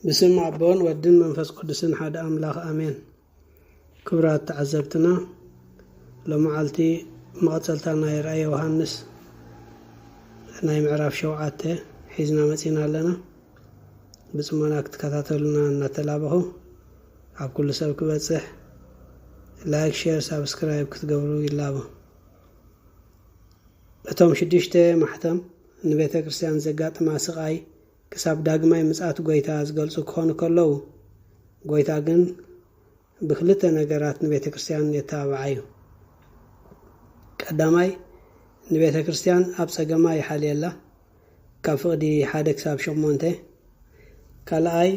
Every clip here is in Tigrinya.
ብስም ኣቦን ወድን መንፈስ ቅዱስን ሓደ ኣምላኽ ኣሜን። ክብራት ተዓዘብትና ሎመዓልቲ መቐጸልታ ናይ ራእይ ዮሃንስ ናይ ምዕራፍ ሸውዓተ ሒዝና መጺና ኣለና። ብጽሞና ክትከታተሉና እናተላበኹ ኣብ ኩሉ ሰብ ክበጽሕ ላይክ፣ ሼር፣ ሳብስክራይብ ክትገብሩ ይላቦ። እቶም ሽዱሽተ ማሕተም ንቤተ ክርስቲያን ዘጋጥማ ስቓይ ክሳብ ዳግማይ ምጽኣት ጐይታ ዝገልጹ ክዀኑ ከለዉ፣ ጐይታ ግን ብኽልተ ነገራት ንቤተ ክርስትያን የተባብዓ እዩ። ቀዳማይ፣ ንቤተ ክርስትያን ኣብ ጸገማ ይሓልየላ፣ ካብ ፍቕዲ ሓደ ክሳብ ሸሞንተ። ካልኣይ፣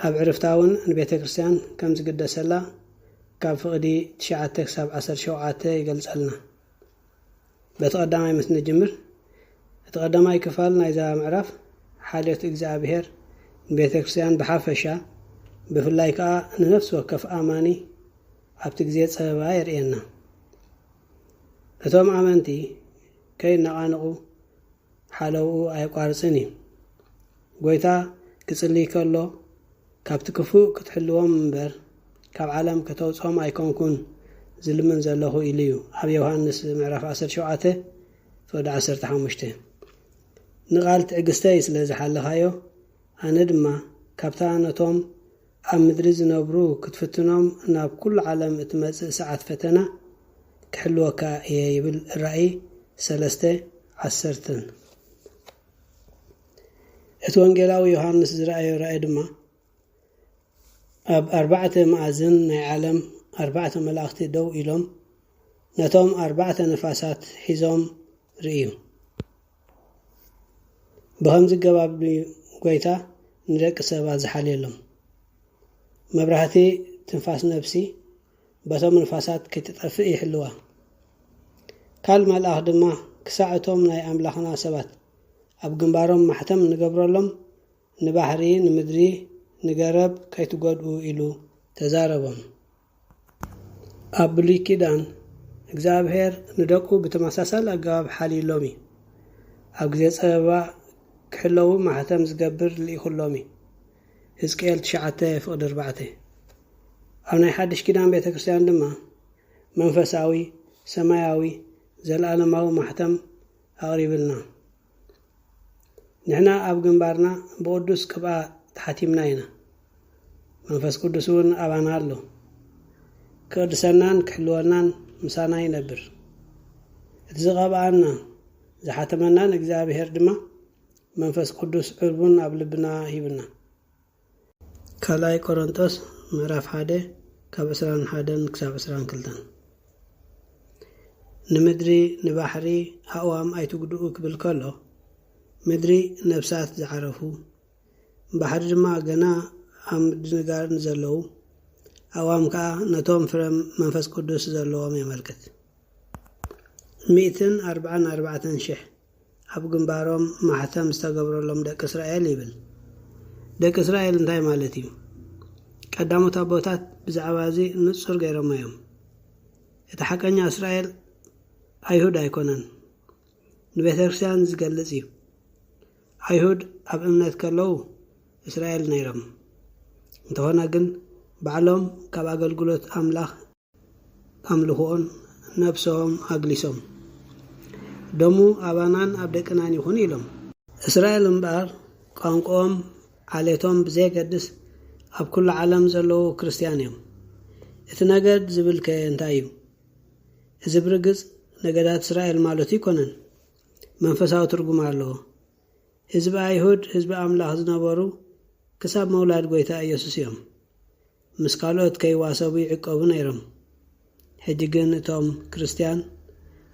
ኣብ ዕርፍታ እውን ንቤተ ክርስትያን ከም ዝግደሰላ ካብ ፍቕዲ ትሽዓተ ክሳብ ዓሰርተ ሸውዓተ ይገልጸልና። በቲ ቀዳማይ ምስ ንጅምር እቲ ቀዳማይ ክፋል ናይዛ ምዕራፍ ሓልዮት እግዚኣብሔር ንቤተክርስቲያን ብሓፈሻ ብፍላይ ከኣ ንነፍሲ ወከፍ ኣማኒ ኣብቲ ግዜ ጸበባ የርእየና። እቶም ኣመንቲ ከይነቓነቑ ሓለውኡ ኣየቋርጽን እዩ። ጐይታ ክጽልይ ከሎ ካብቲ ክፉእ ክትሕልዎም እምበር ካብ ዓለም ከተውጽኦም ኣይኮንኩን ዝልምን ዘለኹ ኢሉ እዩ ኣብ ዮሃንስ ምዕራፍ ዓሰርተ ሸውዓተ ፍቕዲ ዓሰርተ ሓሙሽተ ንቓል ትዕግስተይ ስለ ዝሓለኻዮ ኣነ ድማ ካብታ ነቶም ኣብ ምድሪ ዝነብሩ ክትፍትኖም ናብ ኩሉ ዓለም እትመጽእ ሰዓት ፈተና ክሕልወካ እየ ይብል ራኢ ሰለስተ ዓሰርተ። እቲ ወንጌላዊ ዮሃንስ ዝረኣዮ ራኢ ድማ ኣብ ኣርባዕተ መኣዝን ናይ ዓለም ኣርባዕተ መላእኽቲ ደው ኢሎም ነቶም ኣርባዕተ ነፋሳት ሒዞም ርእዩ። ብኸምዚ ገባብ ድዩ ጎይታ ንደቂ ሰባት ዝሓልየሎም? መብራህቲ ትንፋስ ነብሲ በቶም ንፋሳት ከይትጠፍእ ይሕልዋ። ካል መልኣኽ ድማ ክሳዕ እቶም ናይ ኣምላኽና ሰባት ኣብ ግንባሮም ማሕተም ንገብረሎም ንባሕሪ፣ ንምድሪ፣ ንገረብ ከይትጎድኡ ኢሉ ተዛረቦም። ኣብ ብሉይ ኪዳን እግዚኣብሔር ንደቁ ብተመሳሳል ኣገባብ ሓልዩሎም እዩ። ኣብ ግዜ ጸበባ ክሕለዉ ማሕተም ዝገብር ልኢኹሎም እዩ። ህዝቅኤል ትሽዓተ ፍቕዲ ኣርባዕተ ኣብ ናይ ሓድሽ ኪዳን ቤተ ክርስቲያን ድማ መንፈሳዊ ሰማያዊ ዘለዓለማዊ ማሕተም ኣቕሪብልና። ንሕና ኣብ ግንባርና ብቕዱስ ቅብኣ ተሓቲምና ኢና፣ መንፈስ ቅዱስውን ኣባና ኣሎ። ክቕድሰናን ክሕልወናን ምሳና ይነብር። እቲ ዝቐብኣና ዝሓተመናን እግዚኣብሔር ድማ መንፈስ ቅዱስ ዕርቡን ኣብ ልብና ሂብና። ካልኣይ ቆሮንጦስ ምዕራፍ ሓደ ካብ ዕስራን ሓደን ክሳብ ዕስራን ክልተን ንምድሪ ንባሕሪ ኣእዋም ኣይትጉድኡ ክብል ከሎ ምድሪ ነብሳት ዝዓረፉ ባሕሪ ድማ ገና ኣብ ምድንጋር ንዘለዉ ኣእዋም ከዓ ነቶም ፍረ መንፈስ ቅዱስ ዘለዎም የመልክት። ሚእትን ኣርብዓን ኣርባዕተን ሽሕ ኣብ ግንባሮም ማሕተም ዝተገብረሎም ደቂ እስራኤል ይብል። ደቂ እስራኤል እንታይ ማለት እዩ? ቀዳሞት ኣቦታት ብዛዕባ እዚ ንጹር ገይሮሞ እዮም። እቲ ሓቀኛ እስራኤል ኣይሁድ ኣይኮነን፣ ንቤተ ክርስቲያን ዝገልጽ እዩ። ኣይሁድ ኣብ እምነት ከለዉ እስራኤል ነይሮም፣ እንተኾነ ግን ባዕሎም ካብ ኣገልግሎት ኣምላኽ ኣምልኽኦን ነብሶም ኣግሊሶም ደሙ ኣባናን ኣብ ደቅናን ይኹን ኢሎም። እስራኤል እምበኣር ቋንቁኦም ዓሌቶም ብዘየገድስ ኣብ ኩሉ ዓለም ዘለዉ ክርስትያን እዮም። እቲ ነገድ ዝብል ከ እንታይ እዩ? እዚ ብርግጽ ነገዳት እስራኤል ማለቱ ኣይኮነን። መንፈሳዊ ትርጉም ኣለዎ። ህዝቢ ኣይሁድ ህዝቢ ኣምላኽ ዝነበሩ ክሳብ መውላድ ጎይታ ኢየሱስ እዮም። ምስ ካልኦት ከይዋሰቡ ይዕቀቡ ነይሮም። ሕጂ ግን እቶም ክርስትያን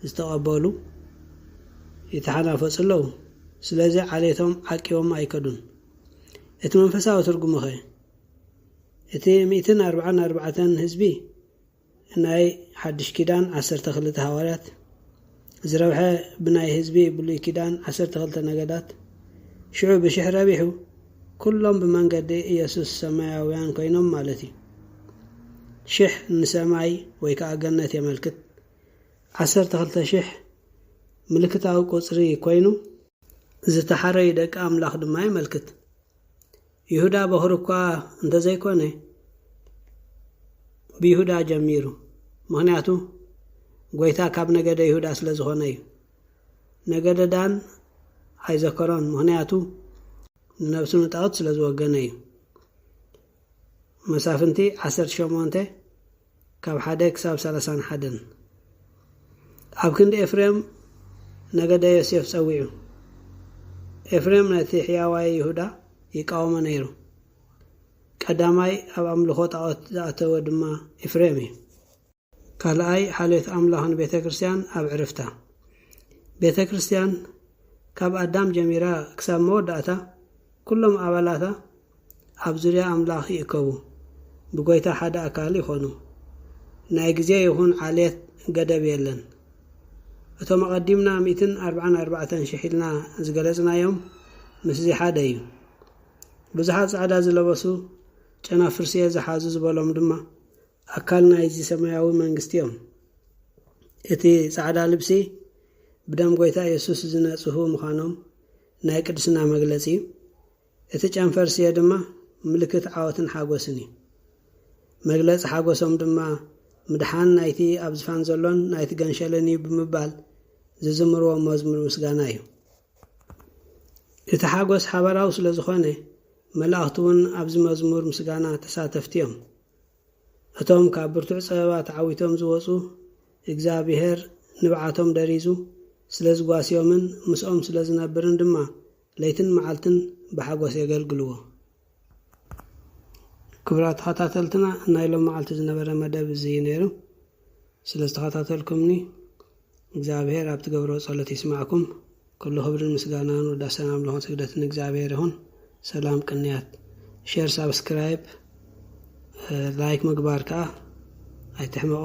ዝተቐበሉ ይተሓናፈጹ ኣለዉ፣ ስለዚ ዓሌቶም ዓቂቦም ኣይከዱን። እቲ መንፈሳዊ ትርጉሙኸ? እቲ ሚእትን ኣርብዓን ኣርባዕተን ህዝቢ ናይ ሓድሽ ኪዳን ዓሰርተ ክልተ ሃዋርያት ዝረብሐ ብናይ ህዝቢ ብሉይ ኪዳን ዓሰርተ ክልተ ነገዳት ሽዑ ብሽሕ ረቢሑ ኩሎም ብመንገዲ ኢየሱስ ሰማያውያን ኮይኖም ማለት እዩ። ሽሕ ንሰማይ ወይ ከዓ ገነት የመልክት። ዓሰርተ ክልተ ሽሕ ምልክታዊ ቁፅሪ ኮይኑ ዝተሓረዩ ደቂ ኣምላኽ ድማ የመልክት። ይሁዳ በዅሪ እኳ እንተ ዘይኰነ፣ ብይሁዳ ጀሚሩ፣ ምኽንያቱ ጐይታ ካብ ነገደ ይሁዳ ስለ ዝዀነ እዩ። ነገደ ዳን ኣይዘከሮን፣ ምኽንያቱ ንነብሱ ንጣኦት ስለ ዝወገነ እዩ። መሳፍንቲ ዓሰርተ ሸሞንተ። ካብ ሓደ ክሳብ ሰላሳን ሓደን። ኣብ ክንዲ ኤፍሬም ነገደ ዮሴፍ ጸዊዑ። ኤፍሬም ነቲ ሕያዋይ ይሁዳ ይቃወሞ ነይሩ። ቀዳማይ ኣብ ኣምልኾ ጣዖት ዝኣተወ ድማ ኤፍሬም እዩ። ካልኣይ ሓልዮት ኣምላኽን ቤተ ክርስቲያን ኣብ ዕርፍታ። ቤተ ክርስቲያን ካብ ኣዳም ጀሚራ ክሳብ መወዳእታ ኵሎም ኣባላታ ኣብ ዙርያ ኣምላኽ ይእከቡ፣ ብጐይታ ሓደ ኣካል ይዀኑ። ናይ ግዜ ይኹን ዓሌት ገደብ የለን። እቶም ኣቐዲምና ሚእትን ኣርብዓን ኣርባዕተን ሽሕ ኢልና ዝገለጽናዮም ምስዚ ሓደ እዩ። ብዙሓት ጻዕዳ ዝለበሱ ጨናፍርስ'የ ዝሓዙ ዝበሎም ድማ ኣካል ናይዚ ሰማያዊ መንግስቲ እዮም። እቲ ጻዕዳ ልብሲ ብደም ጐይታ የሱስ ዝነጽሁ ምዃኖም ናይ ቅድስና መግለጺ እዩ። እቲ ጨንፈር ስየ ድማ ምልክት ዓወትን ሓጐስን እዩ። መግለጺ ሓጐሶም ድማ ምድሓን ናይቲ ኣብ ዝፋን ዘሎን ናይቲ ገንሸልን እዩ ብምባል ዝዝምርዎ መዝሙር ምስጋና እዩ። እቲ ሓጐስ ሓባራዊ ስለ ዝኾነ መላእኽቲ እውን ኣብዚ መዝሙር ምስጋና ተሳተፍቲ እዮም። እቶም ካብ ብርቱዕ ጸበባ ተዓዊቶም ዝወጹ፣ እግዝኣብሄር ንብዓቶም ደሪዙ ስለ ዝጓስዮምን ምስኦም ስለ ዝነብርን ድማ ለይትን መዓልትን ብሓጐስ የገልግልዎ። ክቡራት ተኸታተልትና ናይ ሎምዓልቲ ዝነበረ መደብ እዚ'ዩ ነይሩ። ስለ ዝተኸታተልኩምኒ እግዚኣብሔር ኣብ ትገብርዎ ጸሎት ይስማዕኩም ኩሉ ክብርን ምስጋናን ውዳሰን ኣምልኾን ስግደትን ንእግዚኣብሔር ይኹን ሰላም ቅንያት ሼር ሳብስክራይብ ላይክ ምግባር ከኣ ኣይትሕመቑ